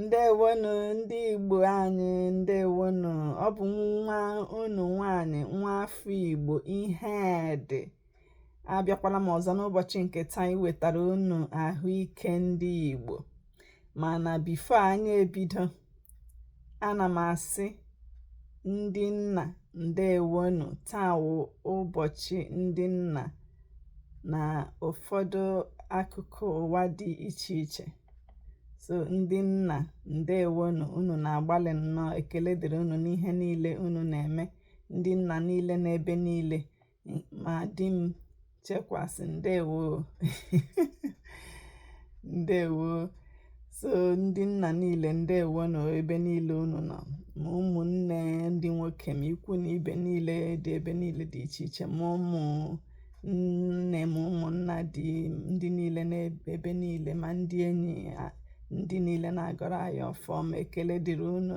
ndewonu ndị igbo anyị ndewonu ọ bụ nwa unu nwanyị nwa afọ igbo ihedị abịakwala m ọzọ n'ụbọchị nke taa iwetara unu ahụike ndị igbo mana before anyị ebido ana m asị ndị nna ndewonu taa wụ ụbọchị ndị nna na ụfọdụ akụkụ ụwa dị iche iche so ndị nna ndewonu unu na-agbalị nnọọ ekele dịrị unu n'ihe niile unu na-eme ndị nna niile n'ebe niile ma di m chekwasị ndewo ndewo so ndị nna niile ndewonu ebe niile unu nọ ma ụmụnne ndị nwoke ma ikwu na ibe niile dị ebe niile dị iche iche ma ụmụnne ma ụmụnna dị ndị niile n'ebe niile ma ndị enyi ndị niile na-agọrọ anyị ọfọ ọma ekele dịrị unu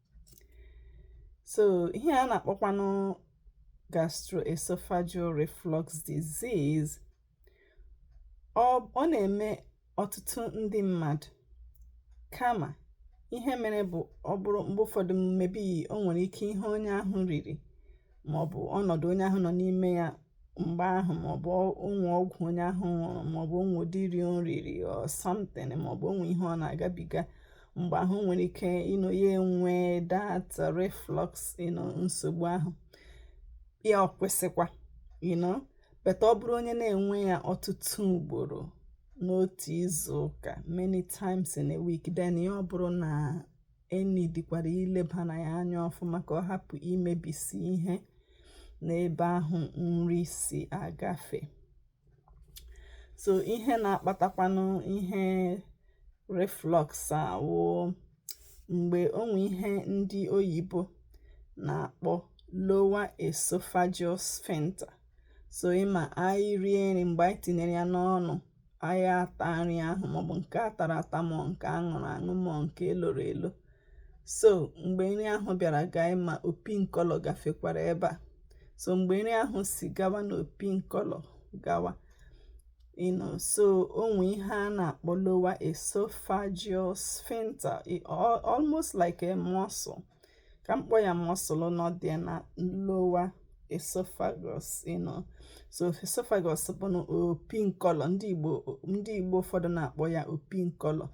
so ihe a na-akpọkwanụ gastroesophageal reflux disease ọ na-eme ọtụtụ ndị mmadụ kama ihe mere bụ ọ bụrụ mgbe ụfọdụ maybe o nwere ike ihe onye ahụ riri maọbụ ọnọdụ onye ahụ nọ n'ime ya mgbe ahụ maọbụ o nwe ọgwụ onye ahụ ṅụrụ maọbụ o nwe ụdị nri o riri or something maọbụ o nwe ihe ọ na-agabiga mgbe ahụ nwere ike you know ya enwe that reflux you know nsogbu ahụ ya ọ kwụsịkwa you know but ọ bụrụ onye na-enwe ya ọtụtụ ugboro n'otu izu ụka many times in a week then ya ọ bụrụ na e needikwara ileba na ya anya ọfụma ka ọ hapụ imebisi ihe n'ebe ahụ nri si agafe so ihe na-akpatakwanụ ihe reflux a wụ mgbe o nwe ihe ndị oyibo na-akpọ lower esophageal sphincter so ị ma anyị rie nri mgbe anyị tinyere ya n'ọnụ anyị ata nri ahụ maọbụ nke a tara ata mọọ nke a ṅụrụ aṅụ mọọ nke e loro elo so mgbe nri ahụ bịara gaa ị ma opi nkọlọ gafekwara ebe a so mgbe nri ahụ si gawa na opi nkọlọ gawa you know so o nwe ihe a na-akpọ lower esophageal sphincter almost like a muscle ka m kpọọ ya muscle nọ dị na lower esophagus you know so esophagus bụ na opi nkọlọ ndị igbo ụfọdụ na-akpọ ya opi nkọlọ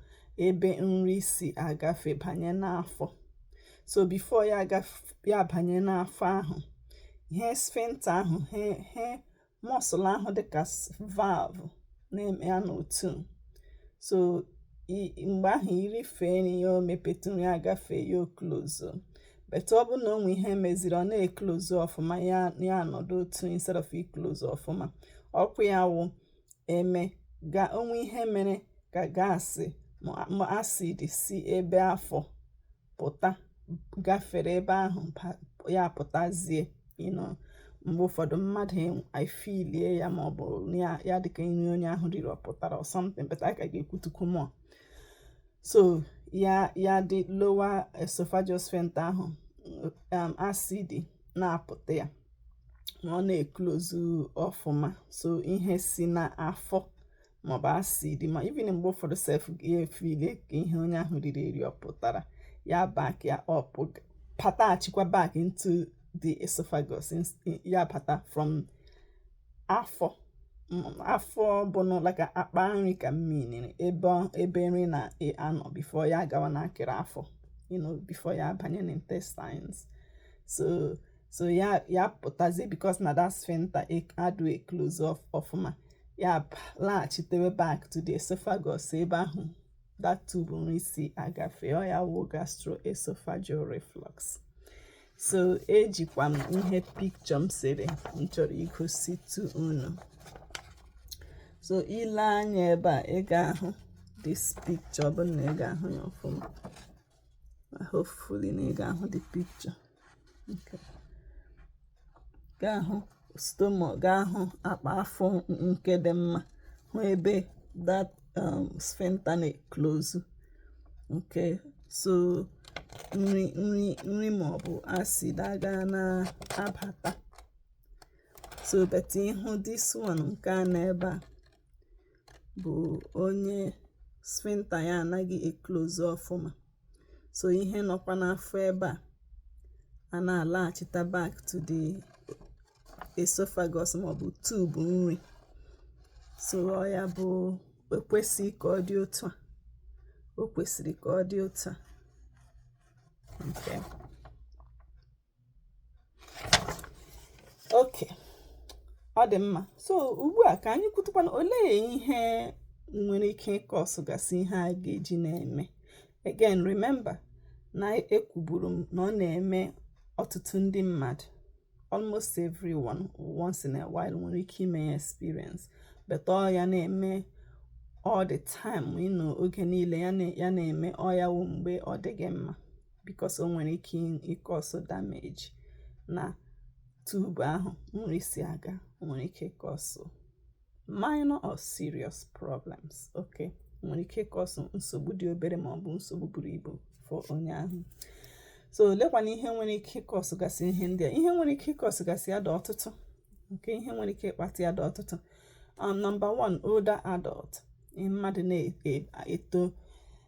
ebe nri si agafe banye n'afọ so before ya ya banye n'afọ ahụ ihe sphincter ahụ he he muscle ahụ dịka valve na-eme ya n'otu so mgbe ahụ irifee nri ya o mepetụ nri agafe ya oklozo but ọ bụrụ na o nwee ihe meziri ọ na-eklozu ọfụma ya ya anọdụ otu instead of iklozu ọfụma okwu ya wụ eme ga o nwee ihe mere ka gas ma acid si ebe afọ pụta gafere ebe ahụ ya pụtazie you know mgbe ụfọdụ mmadụ efilie ya ma ọ bụ ya dịka nri onye ahụ riri ọ pụtara or something but a ka ga-ekwutukwu more so ya ya dị lower esophageal sphincter ahụ um, acid na-apụta ya ma ọ na-eklozu ọfụma so ihe si n'afọ maọbụ acid ma even mgbe ụfọdụ sef ga-efile ka ihe onye ahụ riri eri ọ pụtara ya back ya up pataghachikwa back into the esophagus ya bata from afọ afọ bụnụ like akpa nri ka m miniri ebe nri na-anọ before ya gawa n'akịrị afọ you know before ya abanye n'intestines so so ya ya pụtazie because na that sphincter e, adụ eclose ọfụma ya laghachitewe back to the esophagus ebe ahụ that tube nri si agafe ọ ya wụ gastroesophageal reflux so ejikwa m ihe picture m sere m chọrọ igositu unu so i lee anya ebe a ị ga-ahụ this picture bụ na ị ga-ahụ ya ọfụma hopefully na ị ga-ahụ the picture ga-ahụ stomach ga-ahụ akpa afọ nke dị mma hụ ebe that um, sphincter na-eklozu okay so nri nri nri ma ọ bụ acid aga na-abata so but ị hụ this one nke a nọ ebe a bụ onye sphincter ya anaghị eklozu ọfụma so ihe nọkwa n'afọ ebe a a na-alaghachita back to the esophagus maọbụ tube nri so ọ ya bụ ekwesịghị ka ọ dị otu a o kwesịrị ka ọ dị otu a okay ọ dị mma so ugbu a ka anyị kwutukwanụ olee ihe nwere ike ịkọsụgasị ihe a ga-eji na-eme again remember na ekwuburu m na ọ na-eme ọtụtụ ndị mmadụ almost everyone once in a while nwere ike ime ya experience but ọ ya na-eme all the time you know oge niile ya na-eme ọ ya wụ mgbe ọ dịghị mma because o nwere ike ịkọsụ damage na tube ahụ nri si aga o nwere ike ịkọsụ minor or serious problems okay o nwere ike ịkọsụ nsogbu dị obere ma ọ bụ nsogbu buru ibu for onye ahụ so olekwanụ ihe nwere ike ịkọsụgasị ihe ndị a ihe nwere ike ịkọsụgasị ya dị ọtụtụ okay ihe nwere ike ịkpata ya dị ọtụtụ um, number one older adult mmadụ na-eto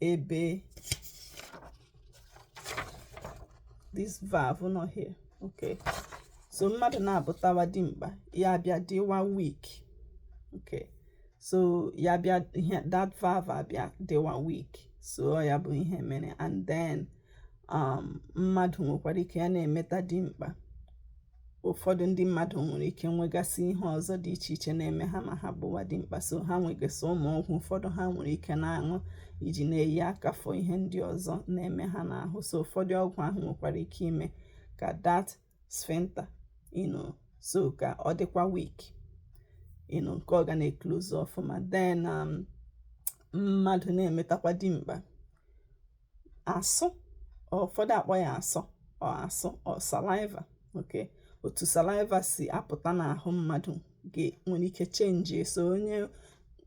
ebe this valve nọ here okay so mmadụ na-abụtawa dimkpa ya bịa dịwa weak okay so ya bịa ihe that valve abịa dịwa weak so ya bụ ihe mere and then um, mmadụ nwekwara ike ya na-emeta dimkpa ụfọdụ ndị mmadụ nwere ike nwegasị ihe ọzọ dị iche iche na-eme ha ma ha bụwa dimkpa so ha nwegasị ụmụ ọgwụ ụfọdụ ha nwere ike na-aṅụ iji na-eyi aka for ihe ndị ọzọ na-eme ha n'ahụ so ụfọdụ ọgwụ ahụ nwekwara ike ime ka that sphincter you know so ka ọ dịkwa weak you know nke ọ ga na-eclose ọfụma then um, mmadụ na-emetakwa dimkpa asụ ụfọdụ akpọ ya asọ or asụ or saliva okay otu saliva si apụta n'ahụ mmadụ nwere ike change so onye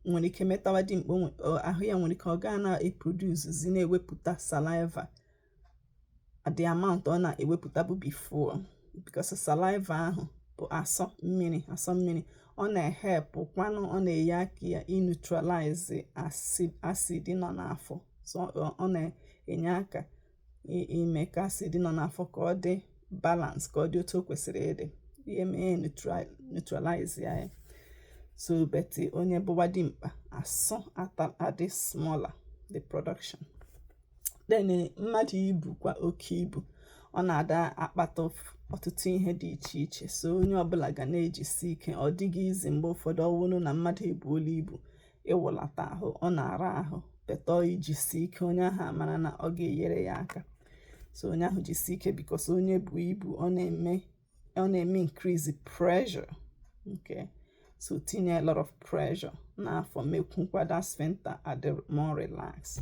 nwere ike metawa dimkpa ahụ ya nwere ike ọ gaa na-eproduce na-ewepụta saliva the amount ọ na-ewepụtabu before because saliva ahụ bụ asọ mmiri asọ mmiri ọ na-ehelpụkwanụ ọ na-enye aka ya ineutralize acid nọ n'afọ so ọ na-enye aka ime ka acid nọ n'afọ ka ọ dị balance ka ọ dị otu o kwesịrị ịdị ihe mee neutralize ya ya so but onye bụwa dimkpa asụ adị smaller the production then eh, mmadụ ibukwa oke ibu ọ na-ada akpata ọtụtụ ihe dị iche iche so onye ọbụla ga na-ejisi ike ọ dịghị easy mgbe ụfọdụ ọwụrụ na mmadụ ebuola ibu ịwụlata ahụ ọ na-ara ahụ but onye jisi ike onye ahụ amara na ọ ga-enyere ya aka so onye ahụ jisi ike because onye bu ibu ọ na-eme ọ na-eme increase pressure okay so tinye a lot of pressure n'afọ mekwukwa that sphincter adị more relax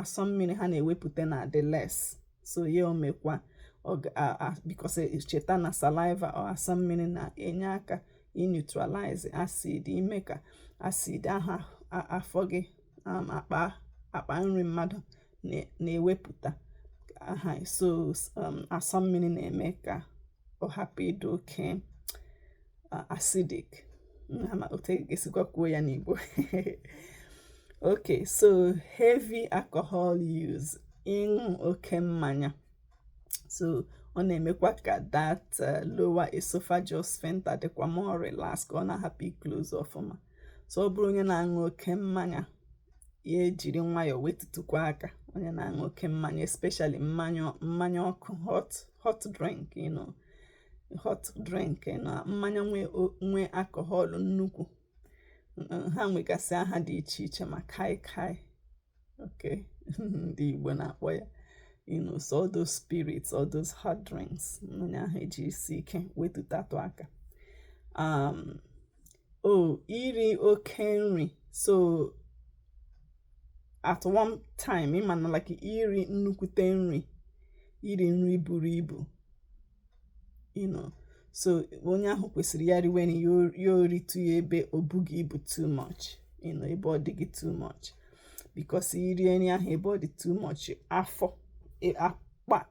asọ mmiri ha na-ewepụta na-adị less so ya omekwa because e, cheta na saliva or asọ mmiri na-enye aka neutralize acid ime ka acid ahụ afọ gị um, akpa akpa nri mmadụ na-ewepụta aha so um, asọ mmiri na-eme ka ọ hapụ ịdị oke acidic ama otu e ga-esikwa kwuo ya n'Igbo okay so heavy alcohol use ịṅụ oke mmanya so ọ na-emekwa ka that uh, lower esophageal sphincter dịkwa more relax ka ọ na-ahapụ iclose ọfụma so ọ bụrụ onye na-aṅụ oke mmanya ya ejiri nwayọọ wetutụkwa aka onye na-aṅụ oke mmanya especially mmanya mmanya ọkụ hot hot drink you know hot drink na mmanya nwe alcohol nnukwu ha nwegasị aha dị iche iche ma kai kai okay ndị Igbo na-akpọ ya you know so all those spirits all those hot drinks onye ahụ ejisie ike wetutatụ aka um, oh iri oke nri so at one time ịmana like iri nnukwute nri iri nri buru ibu you know so onye ahụ kwesịrị ya riwe nri ya oritụ ya ebe o bughị ibu too much you know ebe ọ dịghị too much because iri nri ahụ ebe ọ dị too much afọ e, akpa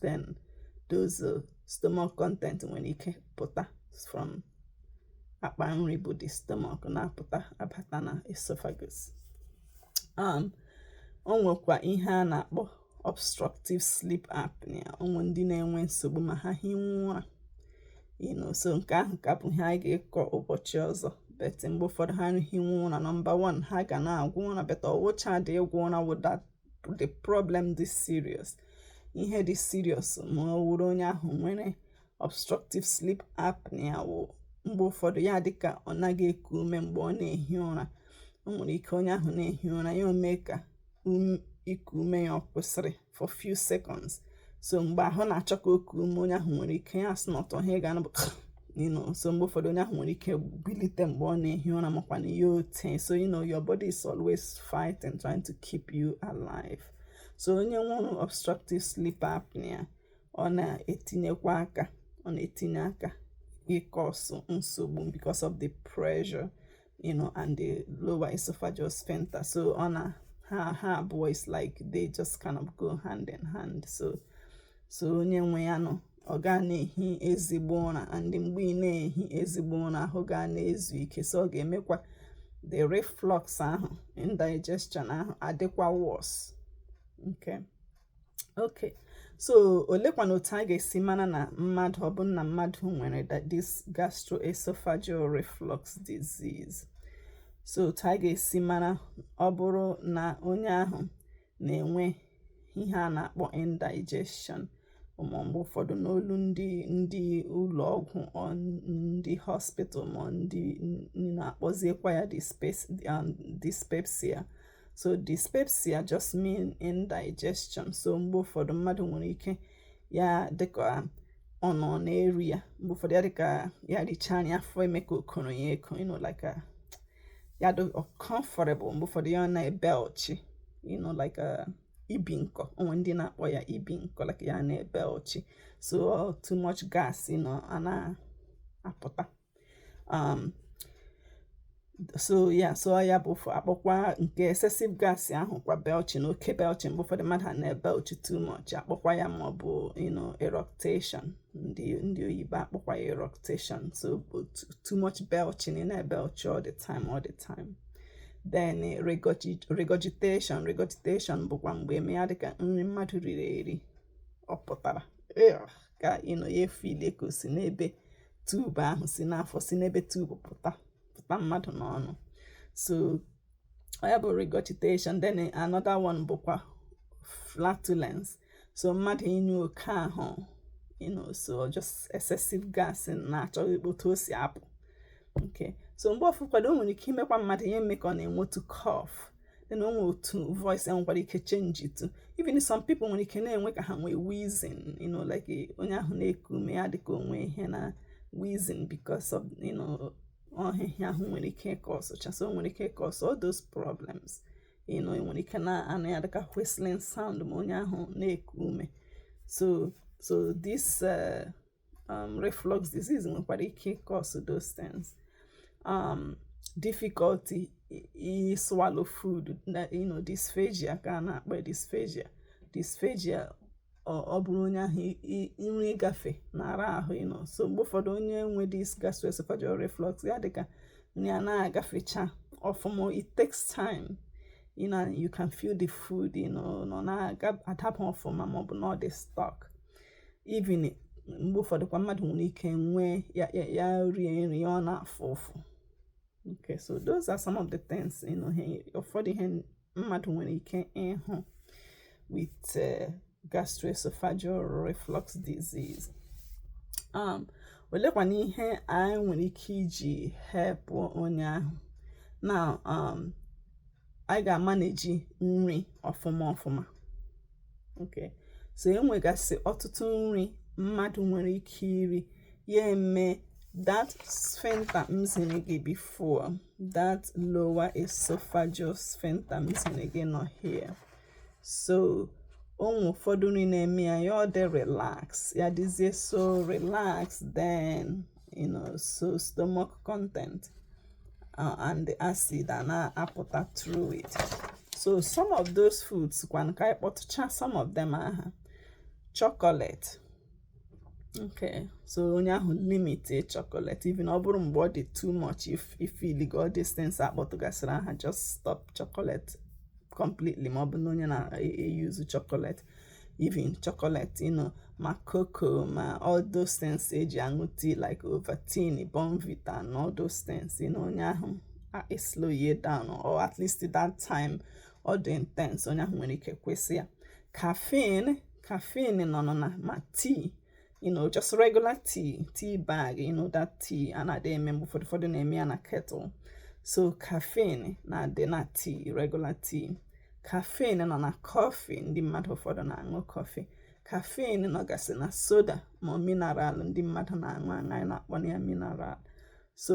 then those uh, stomach content nwere ike pụta from akpa nri bụ the stomach na-apụta abata na esophagus um, o nwekwa ihe a na-akpọ obstructive sleep apnea o nwe ndị na-enwe nsogbu ma ha hiwe ụra you know so nke ahụ ka bụ ihe anyị ga-ekọ ụbọchị ọzọ but mgbe ụfọdụ ha hiwe ụra number one ha ga na-agwọ ụra but ọ wụchadị ịgwọ ụra wụ the the problem dị serious ihe dị serious ma ọ wụrụ onye ahụ nwere obstructive sleep apnea wụ mgbe ụfọdụ ya adịka ọ naghị eku ume mgbe ọ na-ehi ụra o nwere ike onye ahụ na-ehi ụra ya omee ka um, iku ume ya ọ kwụsịrị for few seconds so mgbe ahụ na-achọ ka o kuo ume onye ahụ nwere ike ya snort ihe ị ga-anụ bụ you know so mgbe ụfọdụ onye ahụ nwere ike bilite mgbe ọ na-ehi ụra makwanụ ya ote so you know your body is always fighting trying to keep you alive so onye nwere obstructive sleep apnea ọ na-etinyekwa aka ọ na-etinye aka icause nsogbu because of the pressure you know, and the lower esophageal sphincter. So ọ na ha abụọ is like they just kind of go hand in hand. So so onye nwe ya you know ọ gaghị na-ehi ezigbo ụra and mgbe ị naghị ehi ezigbo ụra ahụ agaghị na-ezu ike so ọ ga-emekwa the reflux ahụ indigestion ahụ adịkwa worse okay ok so olekwana otu a ga-esi mara na mmadụ ọ bụ na mmadụ nwere this gastroesophageal reflux disease so otu a ga-esi mara ọ bụrụ na onye ahụ na-enwe ihe a na-akpọ indigestion um, mgbe ụfọdụ n'olu ndị ndị ụlọ ọgwụ ndị hospital ma ndị na-akpọziekwa ya um, dyspepsia so dyspepsia just mean indigestion so mgbe ụfọdụ mmadụ nwere ike ya dịka ọ nọ na-eru ya mgbe ụfọdụ ya dịka ya richaa nri afọ eme ka o koro ya eko you know like a, uh, ya dị uncomfortable mgbe ụfọdụ ya na-ebelchi you know like a, uh, ibi nkọ o nwe ndị na-akpọ ya ibi nkọ like ya na-ebelchi so too much gas you know, a na-apụta um, so ya so ya bụ a kpọkwa nke excessive gas ahụ kwa belching oke belching mgbe ụfọdụ mmadụ na-ebelchi too much a kpọkwa ya ma ọ bụ you know eructation ndị ndị oyibo akpọkwa ya eructation so too much belching ị na-ebelchi all the time all the time then eh, regurgitation regurgitation bụkwa mgbe eme ya dịka nri mmadụ riri eri ọ pụtara ka you know ya efile ka o si n'ebe tube ahụ si n'afọ si n'ebe tube pụta pụta mmadụ n'ọnụ so ya bụ regurgitation then another one bụkwa flatulence so mmadụ ịnyụ oke ahụ you know so just excessive gas na-achọ otu o si apụ okay so mgbe ụfọkwadụ o nwere ike imekwa mmadụ ihe eme ka ọ na-enwetu cough then o nwere otu voice ya nwekwara ike changetụ even some people nwere ike na-enwe ka ha nwee wheezing you know like onye ahụ na-eku ume ya dịka o nwe ihe na wheezing because of you know uh, ihe ahụ nwere ike cause cha so nwere ike cause all those problems you know nwere ike na-anụ ya dịka whistling sound ma onye ahụ na-eku ume so so this uh, um, reflux disease nwekwara ike cause those things um, difficulty swallow food na you know dysphagia ka a na-akpọ dysphagia dysphagia ọ bụrụ onye ahụ nri ịgafe na-ara ahụ you know so mgbe ụfọdụ onye nwe this gastroesophageal reflux ya dịka nri a na-agafecha ọfụma it takes time you know you can feel the food you know na ọ na-adapụ ọfụma maọbụ na ọ dị stuck even mgbe ụfọdụ kwa mmadụ nwere ike nwee ya ya rie nri ya ọ na-afụ ụfụ okay so those are some of the things you know ụfọdụ ihe mmadụ nwere ike ịhụ with uh, gastroesophageal reflux disease um olekwana ihe anyị nwere ike iji help onye ahụ now um anyị ga-amanage nri ọfụma ọfụma okay so enwegasị ọtụtụ nri mmadụ nwere ike iri ya eme that sphincter m ziri gị before that lower esophageal sphincter m ziri gị nọ here so o nwe ụfọdụ nri na-eme ya ya ọ dị relax ya dịzie so relax then you know so stomach content uh, and the acid a na-apụta through it so some of those foods kwanụ ka anyị kpọtụcha some of them aha chocolate okay so onye ahụ limit chocolate even ọ bụrụ mgbe ọ dị too much if ị feeliga all these things a kpọtụgasịrị aha just stop chocolate completely ma ọ bụ na onye na-eyuzu chocolate even chocolate you know ma cocoa ma all those things e ji aṅụ tea like Ovaltine Bournvita and all those things you know onye ahụ eslowe down or at least that time ọ dị intense onye ahụ nwere ike kwụsị ya caffeine caffeine nọ nọ na ma tea you know just regular tea tea bag you know that tea a na-adị eme mgbe ụfọdụ ụfọdụ na-eme ya na kettle so caffeine na-adị na tea regular tea caffeine nọ na coffee ndị mmadụ ụfọdụ na-aṅụ coffee caffeine nọgasị na soda ma mineral ndị mmadụ na-aṅụ anyị na-akpọ ya mineral so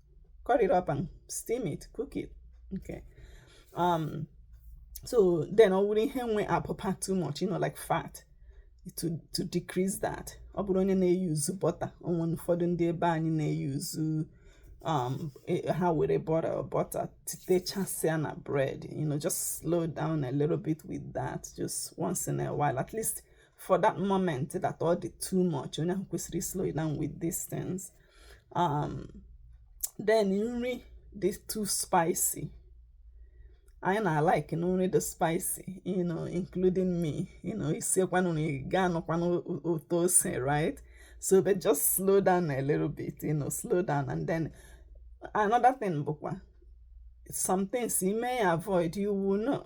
cut it up and steam it cook it okay um so then ọ bụrụ ihe nwe abụba too much you know like fat to to decrease that ọ bụrụ onye na-eyuzu butter o nwe ụfọdụ ndị ebe anyị na-eyuzu um e, ha were butter butter titechasịa na bread you know just slow down a little bit with that just once in a while at least for that moment that ọ dị too much onye ahụ kwesịrị slow down with these things um then nri dị too spicy anyị na-alike na nri dị spicy you know including me you know isiekwanụ na ị ga-anụkwanụ ụtọ ose right so but just slow down a little bit you know slow down and then another thing bụkwa some things you may avoid you will know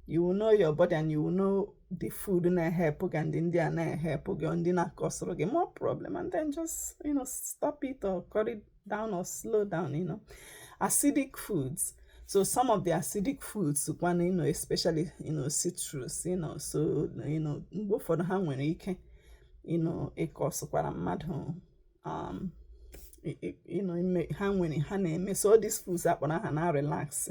you will know your body and you will know the food na-ehelp gị and ndị a na-ehelp gị ndị na-acausịrị gị more problem and then just you know stop it or cut it down or slow down you know acidic foods so some of the acidic foods kwanụ you know especially you know citrus you know so you know mgbe ụfọdụ ha nwere ike you know ịcausekwara mmadụ um you know ha nwere ha na-eme so all these foods a kpọrọ aha na-arelax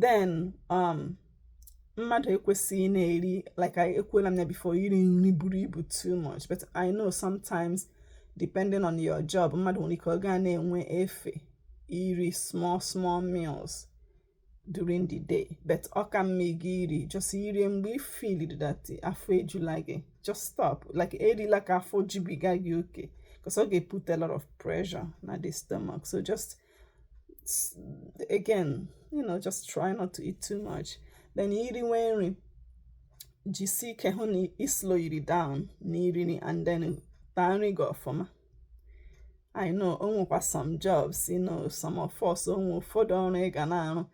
then um mmadụ ekwesịghị na-eri like I ekwuola m ya before iri nri buru ibu too much but I know sometimes depending on your job mmadụ nwere ike ọ gaa na-enwe efe iri small small meals during the day but ọ ka mma gị iri just irie mgbe ị feel that afọ ejula gị just stop like erila ka afọ jubiga gị oke because ọ ga-eput a lot of pressure na the stomach so just again you know just try not to eat too much then iriwe nri jisi ike hụ na ị slow it down na iri nri and then taa nri gị ọfụma I know onwekwa some jobs you know some of us onwe ụfọdụ ọrụ ị ga na-arụ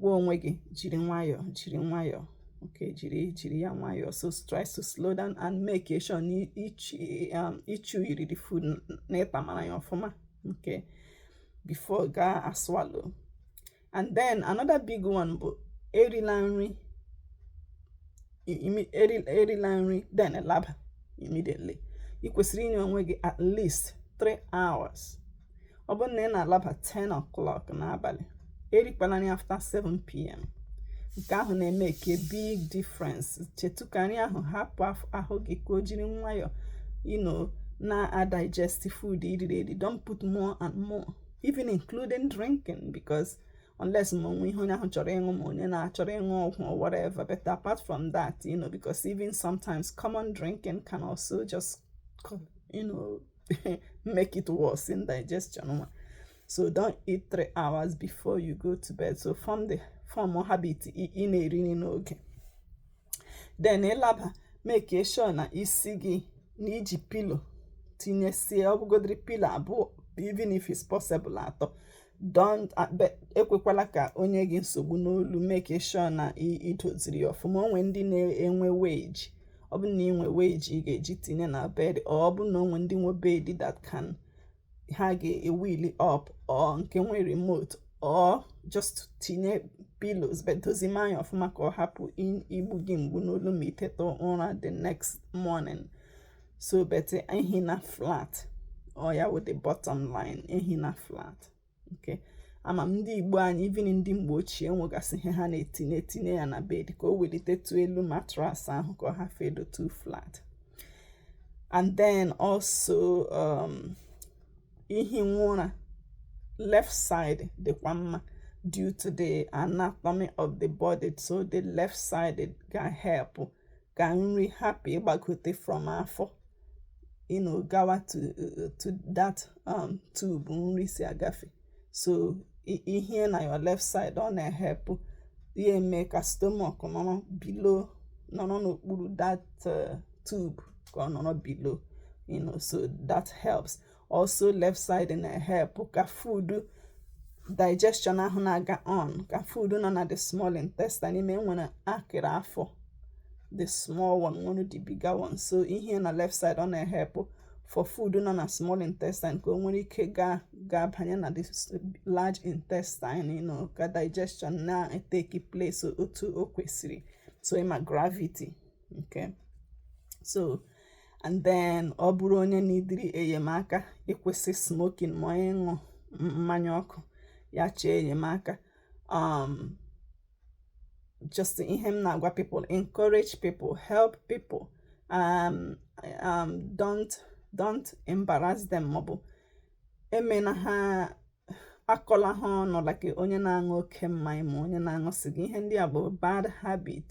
gwa onwe gị jiri nwayọọ jiri nwayọọ okay jiri jiri ya nwayọọ so try to slow down and make sure na i chew um, iri the food na ịtamara ya ọfụma okay before ga-aswallow and then another big one bụ erila nri erila nri then laba immediately ị kwesịrị inye onwe gị at least 3 hours ọ bụrụ na ị na-alaba 10 o'clock n'abalị erikwala nri after 7 pm nke ahụ na-emake a big difference chetu ka nri ahụ hapụ ahụ gị ka o jiri nwayọọ you know na-adigest food i riri eri don't put more and more even including drinking because unless ma onwe ihe onye ahụ chọrọ ịṅụ ma onye na-achọrọ ịṅụ ọgwụ or whatever but apart from that you know because even sometimes common drinking can also just you know make it worse indigestion so don't eat three hours before you go to bed so form the form habit ị na-eri nri n'oge then ịlaba make sure na isi gị na iji pillow tinyesie ọ bụgodiri pillow abụọ even if it's possible atọ don't ekwekwala ka o nye gị nsogbu n'olu make sure na idoziri ya ọfụma onwe ndị na-enwe wedge ọ bụ na inwe wedge ị ga-eji tinye na bed or ọ bụ na onwe ndị nwe bed that can ha ga-ewili up or nke nwe remote or just tinye pillows but dozima ya ọfụma ka ọ hapụ igbu gị mgbu n'olu ma iteta ụra the next morning so but ehina flat ọ ya wụ the bottom line ehina flat okay ama m ndị igbo anyị even ndị mgbe ochie nwegasị ihe ha na-etinye etinye ya na bed ka o welitetụ elu mattress ahụ ka ọ hafụ ido too flat and then also um, ihi ụra left side dịkwa mma due to the anatomy of the body so the left side ga help ka nri hapụ ịgbagote from afọ you know gawa to to that um, tube nri si agafe so i hie na your left side ọ na-ehelp ya eme ka stomach nọrọ below nọrọ n'okpuru that uh, tube ka ọ nọrọ below you know so that helps also left side na-ehepụ ka food digestion ahụ na-aga on ka food nọ na the small intestine ịma e nwere akịrị afọ the small one nwere the bigger one so ihe na left side ọ na-ehepụ for food nọ na small intestine ka o nwere ike gaa banye na the large intestine you know, ka digestion na-eteki place otu o kwesịrị so ịma gravity okay so and then ọ bụrụ onye niidiri enyemaka ịkwụsị smoking ma ọ bụ ịṅụ mmanya ọkụ ya chọọ enyemaka um, just ihe m na-agwa people encourage people help people um, um, don't don't embarrass them maọbụ emena ha akọla ha ọnụ like onye na-aṅụ oke mmanya ma onye na-aṅụ sịga ihe ndị a bụ bad habit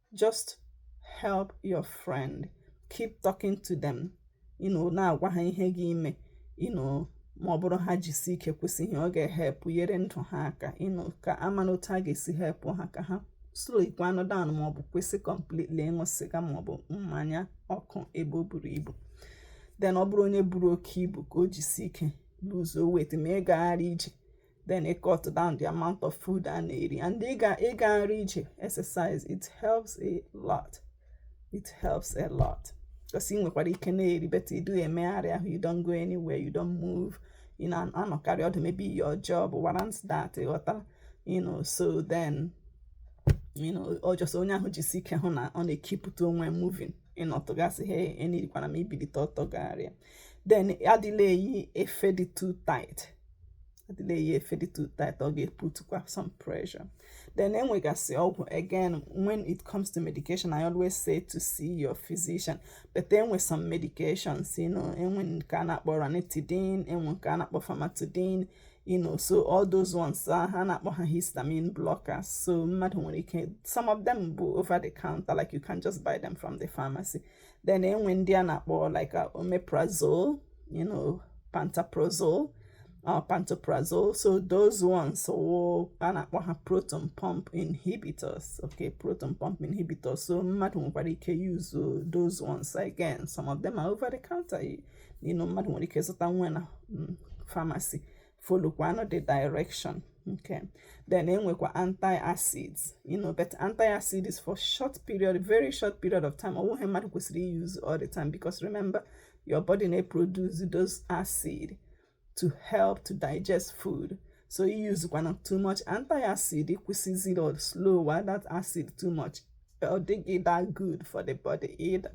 just help your friend keep talking to them you know na-agwa ha ihe ga-eme you know ma ọ bụrụ ha jisi ike kwụsị ihe ọ ga-ehepụ nyere ndụ ha aka you know ka ama na otu a ga-esi hepụ ha ka ha slowikwanụ down ma ọ bụ kwụsị completely ịṅụ sịga ma ọ bụ mmanya ọkụ ebe o buru ibu then ọ bụrụ onye buru oke ibu ka o jisi ike luzuo weight ma ịgagharị ije then ị cut down the amount of food a na-eri and ịga ịgagharị ije exercise it helps a lot it helps a lot because ị nwekwara ike na-eri but ị dịghị emegharị ahụ you don't go anywhere you don't move ị na-anọkarị ọdụ maybe your job warrants that ịghọtara you know so then you know ọ just onye ahụ jisi ike hụ na ọ na-ekipụta onwe moving ị nọtụgasịa enirikwana m ibilite ọtọ gagharịa then adịla eyi efe dị too tight adịla eyi efe dị too tight ọ ga-eputukwa some pressure then enwegasị ọgwụ again when it comes to medication I always say to see your physician but enwe some medications you know enwe nke a na-akpọ ranitidine enwe nke a na-akpọ famotidine you know so all those ones ah, ha na-akpọ ha histamine blockers so mmadụ nwere ike some of them bụ over the counter like you can just buy them from the pharmacy then enwe ndị a na-akpọ like uh, omeprazole you know pantoprazole or uh, pantoprazole so those ones so a na-akpọ ha proton pump inhibitors okay proton pump inhibitors so mmadụ nwekwara ike use uh, those ones again some of them are over the counter you know mmadụ nwere ike zụta nwe na mm, pharmacy folokwanụ the direction okay then enwekwa anti-acids you know but anti-acid is for short period very short period of time ọwụghị oh, mmadụ kwesịrị use all the time because remember your body may produce those acid to help to digest food so use one too much anti-acid kwụsịziri or slower that acid too much ọ dịghị that good for the body either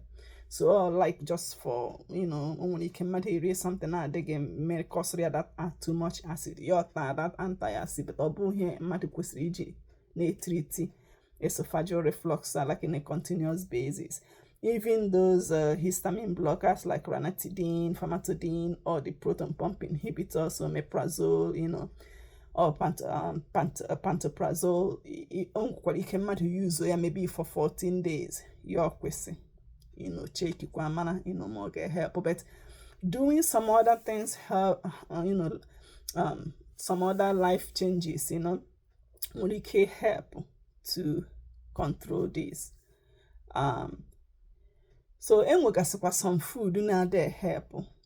so like just for you know o nwere ike mmadụ erie something na-adịghị mma ekọzịrị ya that ah, too much acid ya ọta that anti acid but ọ bụghị ihe mmadụ kwesịrị iji na-etriti esophageal reflux like in a continuous basis even those uh, histamine blockers like ranitidine, famotidine, or the proton pump inhibitors, omeprazole, you know, or pantoprazole o nwekwara ike mmadụ yuzo ya maybe for 14 days ya akwụsị you know chekikwa mara you know ma ọ ga-help but doing some other things help uh, you know um, some other life changes you know nwere ike help to control this um, so enwegasịkwa some food na-adị help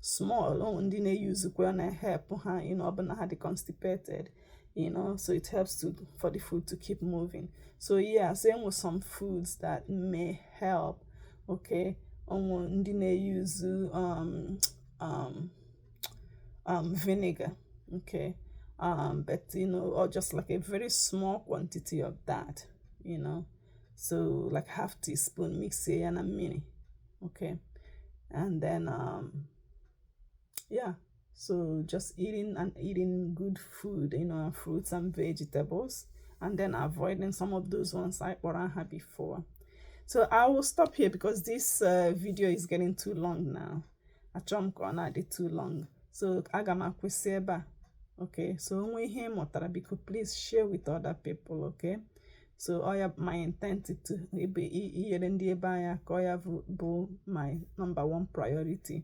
small o nwe ndị na-eyuzukwa na-ehelp ha you know ọ bụ na ha dị constipated you know so it helps to for the food to keep moving so yeah so enwe some foods that may help okay o nwe ndị na-eyuzu um, um, um, vinegar okay um, but you know or just like a very small quantity of that you know so like half teaspoon mixie ya na mmiri okay and then um yeah so just eating and eating good food you know fruits and vegetables and then avoiding some of those ones anyị kpọrọ aha before so i will stop here because this uh, video is getting too long now achọrọ m ka ọ na-adị too long so aga m akwụsị ebe a okay so o nwee ihe ị mụtara biko please share with other people okay so ọ ya my intent bụ inyere ndị be anyị aka ọ ya bụ my number one priority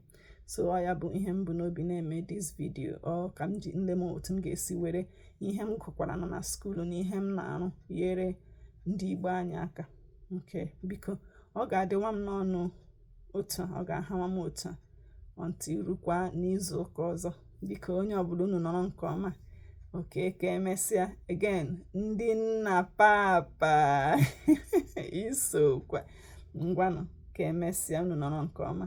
so ọ ya bụ ihe m bu n'obi na-eme this video ọ ka m lee m otu m ga-esi were ihe m gụkwara na na skuulu na ihe m na-arụ yere ndị be anyị aka okay biko ọ ga-adịwa m nnọọ nụ otu a ọ ga-ahawa m otu a until erukwa n'izu ụka ọzọ biko onye ọbụla unu nọrọ nke ọma okay ka emesịa again ndị nna papa isokwa ngwanụ ka emesịa unu nọrọ nke ọma